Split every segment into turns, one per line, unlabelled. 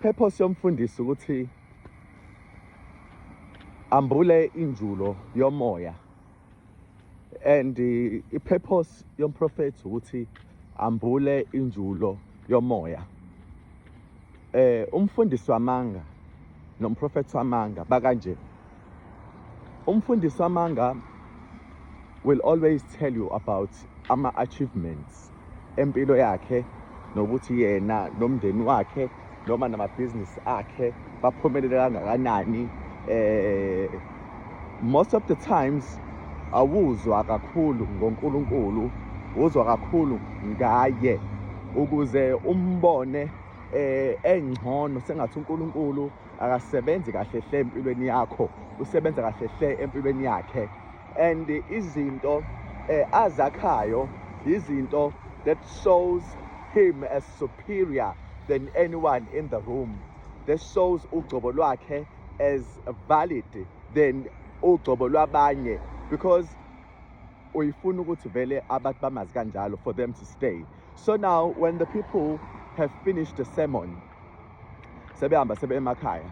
Purpose yomfundisi ukuthi ambule injulo yomoya and i-purpose yomprofethi ukuthi ambule injulo yomoya eh umfundisi wamanga nomprofethi wamanga bakanje Umfundisi wamanga will always tell you about ama achievements empilo yakhe nokuthi yena nomndeni wakhe noma namabhizinisi akhe baphumelele kangakanani eh most of the times awuzwa kakhulu ngoNkulunkulu uzwa kakhulu ngaye ukuze umbone eh engcono sengathi uNkulunkulu akasebenzi kahle hle empilweni yakho usebenza kahle hle empilweni yakhe and izinto eh, azakhayo yizinto that shows him as superior than anyone in the room that shows ugcobo lwakhe as valid than ugcobo lwabanye because uyifuna ukuthi vele abantu bamazi kanjalo for them to stay so now when the people have finished the sermon sebehamba sebe emakhaya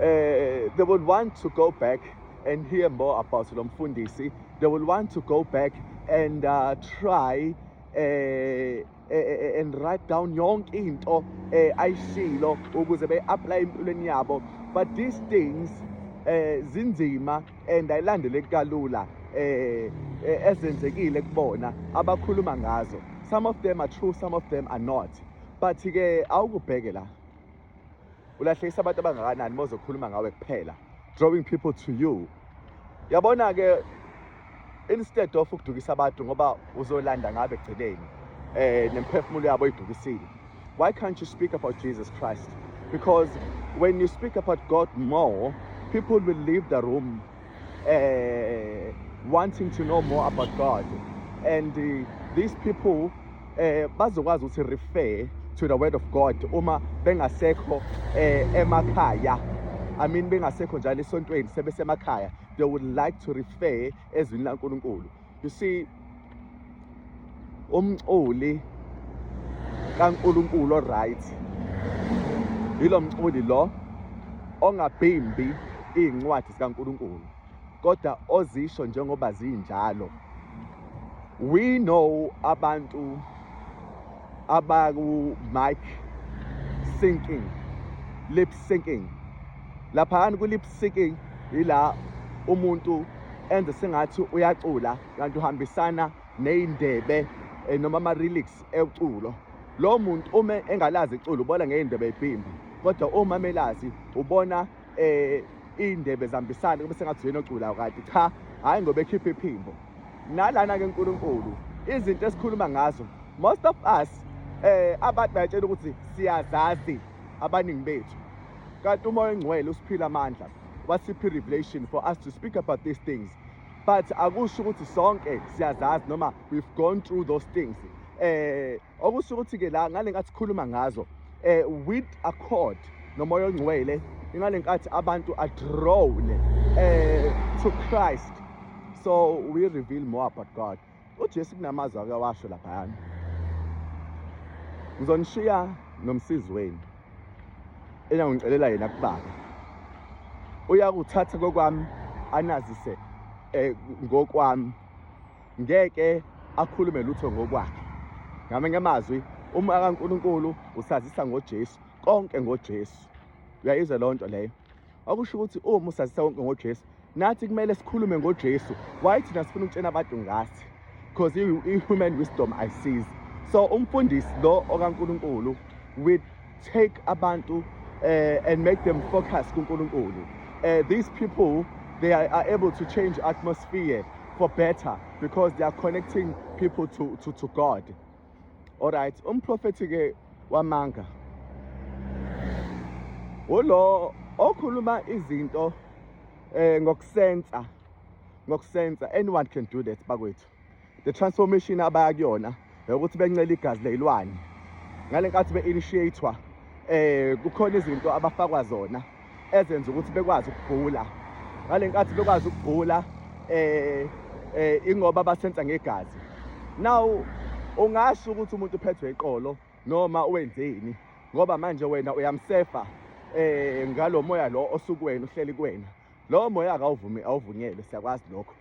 eh they would want to go back and hear more about lo mfundisi they will want to go back and uh, try eh, eh, eh and write down yonke into eh ayishilo ukuze be apply empilweni yabo but these things eh zinzima and ayilandeleki kalula eh, eh ezenzekile kubona abakhuluma ngazo some of them are true some of them are not but ke awukubheke la ulahlekisa abantu abangakanani mozokhuluma ngawe kuphela drawing people to you yabona ke instead of ukudukisa abantu ngoba uzolanda ngabe egcineni eh nemphefumulo yabo idukisile why can't you speak about Jesus Christ because when you speak about God more people will leave the room uh, wanting to know more about God and uh, these people eh bazokwazi ukuthi refer to the word of God uma bengasekho eh emakhaya I mean bengasekho njalo esontweni sebesemakhaya they would like to refer ezwini laNkulunkulu You see umculi kaNkulunkulu right yilo mculi lo ongabhimbi izincwadi zikaNkulunkulu kodwa ozisho njengoba zinjalo we know abantu abaku mic syncing lip syncing laphayana ku lip syncing ila umuntu enze sengathi uyacula kanti uhambisana nezindebe eh, noma ama lyrics eculo lo muntu uma engalazi iculo ubona ngeyindebe ibhimbi kodwa uma melazi ubona eh indebe zambisane kube sengathi yena oculayo kade cha hayi ngoba ekhipha iphimbo nalana ke uNkulunkulu izinto esikhuluma ngazo most of us eh abantu bayatshela ukuthi siyazazi abaningi bethu kanti umoya ongcwele usiphila amandla wasiphi revelation for us to speak about these things but akusho ukuthi sonke siyazazi noma we've gone through those things eh okusho ukuthi-ke la ngale nkathi sikhuluma ngazo um with accord nomoya ongcwele ingale nkathi abantu adrowne um eh, to christ so we reveal more about god ujesu kunamazwi ake washo laphayana ngizonishiya nomsizi wenu enangicelela yena kubaba uyakuthatha kokwami anazise um ngokwami ngeke akhulume lutho ngokwakhe ngamanye amazwi uma kaNkulunkulu usazisa ngoJesu konke ngoJesu uyayizwa loo nto leyo okusho ukuthi uma usazisa konke ngoJesu nathi kumele sikhulume ngoJesu why thina sifuna ukutshena abantu ngathi because i-human wisdom ayisizi so umfundisi lo okaNkulunkulu with take abantu uh, and make them focus kuNkulunkulu uh, these people they are, are able to change atmosphere for better because they are connecting people to, to, to God. All right, umprofethi ke wamanga ulo okhuluma izinto eh ngokusensa ngokusensa anyone can do that bakwethu the transformation abaya kuyona ukuthi bencela igazi leyilwane ngale nkathi be-initiatwa eh kukhona izinto abafakwa zona ezenza ukuthi bekwazi ukugula ngale nkathi bekwazi ukugula eh eh ingoba basenza ngegazi now ungasho ukuthi umuntu uphethwe iqolo noma wenzeni ngoba manje wena uyamsefa eh ngalomoya lo osukuwena uhleli kuwena lo moya akawuvumi awuvunyelwe siyakwazi lokho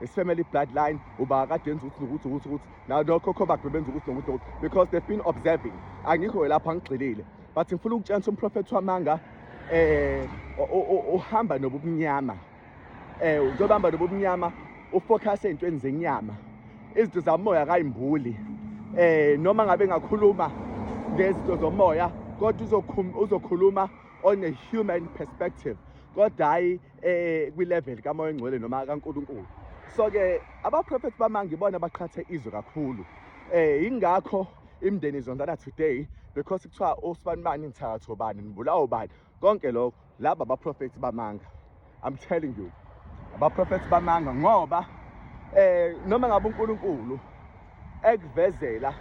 his family bloodline uba kade enza ukuthi nokuthi ukuthi ukuthi nalokhokho bakhe benza ukuthi nokuthi nokuthi because they've been observing angikho lapha ngigxilile but ngifuna ukutshengisa umprofethi wamanga eh uhamba nobumnyama eh uzobamba nobumnyama ufocus ezintweni zenyama izinto zamoya kayimbuli eh noma ngabe ngakhuluma ngezinto zomoya kodwa uzokhuluma on a human perspective kodwa hayi eh kwi level ka moya ngcwele noma ka Nkulunkulu so ke aba prophet bamangi bona baqhathe izwe kakhulu eh ingakho imndeni izondana today because kuthiwa osibani bani nithatho bani nibulawo bani konke lokho laba ba prophet bamanga i'm telling you aba prophet bamanga ngoba eh noma ngabe uNkulunkulu ekuvezela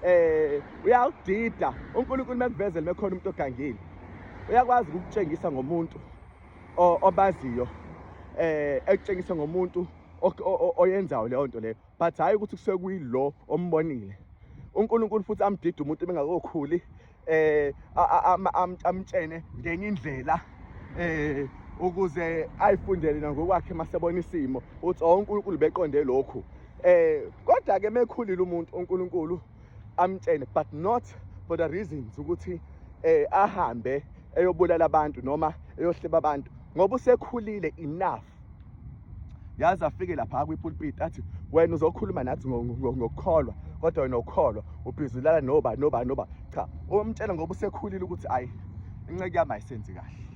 eh uyawudida uNkulunkulu mekuvezela mekhona umuntu ogangile uyakwazi ukutshengisa ngomuntu obaziyo eh ekutshengisa ngomuntu oyenzayo leyo nto leyo but hhayi ukuthi kusuke kuyilo ombonile uNkulunkulu futhi amdida umuntu bengakokhuli eh amtshene ngenye indlela eh ukuze ayifundele nangokwakhe masebona isimo uthi oh, uNkulunkulu beqonde lokhu eh kodwa ke mekhulile umuntu uNkulunkulu amtshene but not for the reasons ukuthi eh ahambe eyobulala abantu noma eyohleba abantu ngoba usekhulile enough yazi afike lapha kwipulpit athi wena uzokhuluma nathi ngokukholwa kodwa wena ukholwa ubhizulala noba noba noba cha umtshela ngoba usekhulile ukuthi ayi inceke yami ayisenzi kahle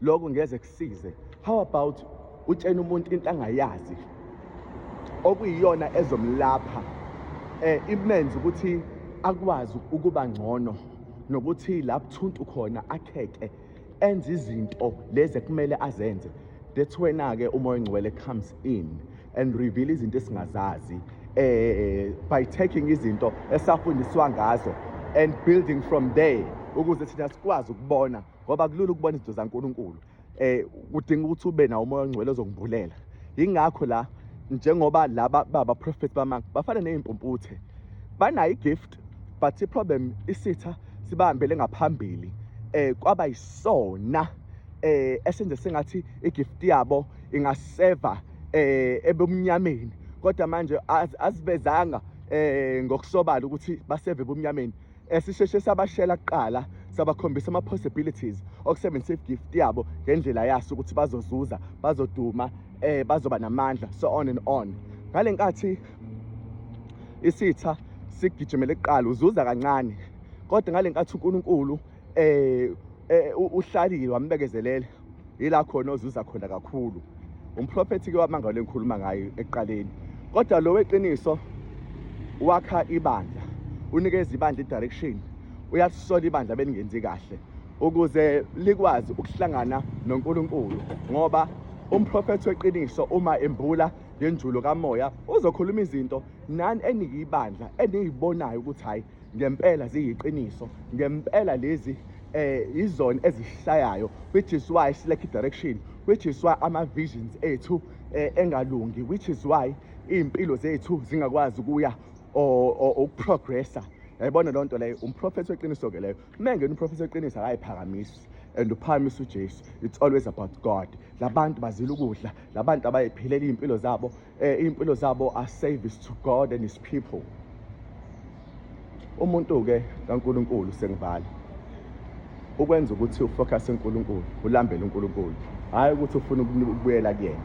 Lokho ngeze kusize. How about utshena umuntu into angayazi okuyiyona ezomlapha eh imenze ukuthi akwazi ukuba ngcono nokuthi lapho thuntu khona akheke enze izinto lezi ekumele azenze that's when ke umoya ngcwele comes in and reveal izinto esingazazi eh by taking izinto esafundiswa ngazo and building from there ukuze thina sikwazi ukubona ngoba kulula ukubona izinto zaNkulunkulu eh kudinga ukuthi ube nawo umoya ongcwele ozokubhulela yingakho la njengoba laba baba prophet bamanga bafana nezimpumputhe banayo igift but iproblem isitha sibambele ngaphambili eh kwaba yisona eh esenze sengathi igift yabo ingaseva eh ebumnyameni kodwa manje azivezanga eh ngokusobala ukuthi baseve ebumnyameni esisheshe sabashela kuqala sabakhombisa ama-possibilities okusebenzisa i-gift yabo ngendlela yaso ukuthi bazozuza bazoduma eh bazoba namandla so on and on ngale nkathi isitha sigijimele kuqala uzuza kancane kodwa ngale nkathi uNkulunkulu eh, eh uhlalile wambekezelele yila khona ozuza khona kakhulu umprofethi ke wamangalo engikhuluma ngayo ekuqaleni kodwa lo weqiniso wakha ibandla unikeza ibandla i-direction uyasisola ibandla belingenzi kahle ukuze likwazi ukuhlangana noNkulunkulu ngoba umprofethi weqiniso uma embula ngenjulo kamoya uzokhuluma izinto nani eniyibandla eniyibonayo ukuthi hayi ngempela ziyiqiniso ngempela lezi eh izona ezishayayo which is why silekh direction which is why ama visions ethu eh, engalungi which is why impilo zethu zingakwazi kuya ukuprogressa yayibona loo nto leyo umprofethi weqiniso ke leyo uma engena umprofethi weqiniso akayiphakamisi and uphakamisa ujesu it's always about god labantu bazila ukudla labantu abayiphilela iy'mpilo zabo eh impilo zabo are service to God and his people umuntu ke kaNkuluNkulu sengivala ukwenza ukuthi ufocus eNkuluNkulu ulambele uNkuluNkulu hayi ukuthi ufuna ukubuyela kuyena